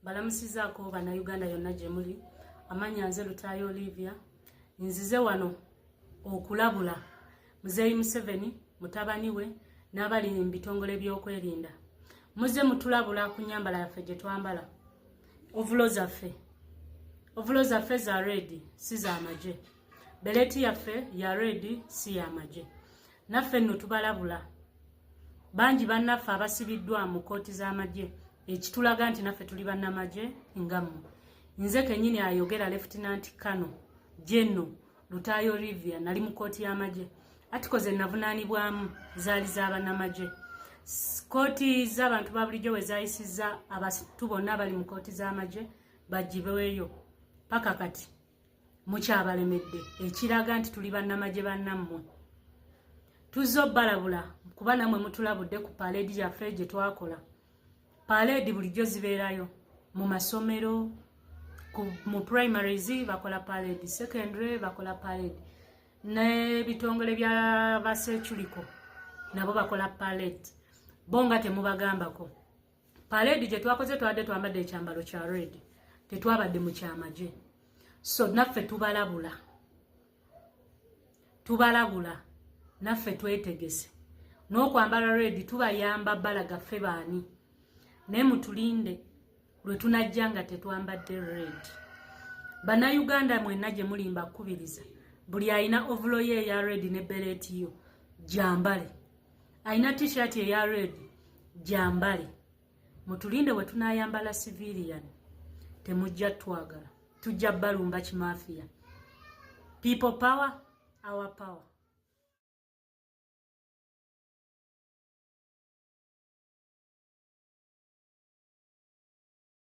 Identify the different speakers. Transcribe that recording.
Speaker 1: balamusizaako bannayuganda yonna gye muli amanya nze lutaayo olivia nzize wano okulabula muzeeyi museveni mutabani we n'abali mu bitongole by'okwerinda muze mutulabula ku nyambala yaffe gye twambala ovulo zaffe ovulo zaffe za redi si za magye beleeti yaffe ya reedi si yamagye naffe nno tubalabula bangi bannaffe abasibiddwa mu kkooti z'amagye ekitulaga nti naffe tuli bannamagye nga mwe nze kenyini ayogera lefutinanti kano jeno lutaayo olivia nali mu kkooti y'amagye atiko ze navunaanibwamu zaali za bannamagye kkooti z'abantu ba bulijjo we zayisiza abantu bonna abali mu kkooti z'amagye bagibweyo paka kati mukyabalemedde ekiraga nti tuli bannamagye bannammwe tuzze obbalabula kuba namwe mutulabudde ku paleedi yaffe gye twakola paleedi bulijjo zibeerayo mu masomero mu primaries bakola paleedi secondary bakola paleedi n'ebitongole bya baseculiko nabo bakola paleedi bo nga temubagambako Parade gye twakoze twabadde twambadde ekyambalo kya red tetwabadde mu kyamagye so naffe tubalabula tubalabula naffe twetegese n'okwambala red tubayamba balaga ffe baani naye mutulinde lwe tunajja nga tetwambadde red bannayuganda mwenna gye mulimba kukubiriza buli alina ovulo ye eya red ne beleeti yo gyambale alina t-shirt eya red jambale mutulinde bwe tunayambala civilian temujja twagala tujja balumba kimafiya people power our power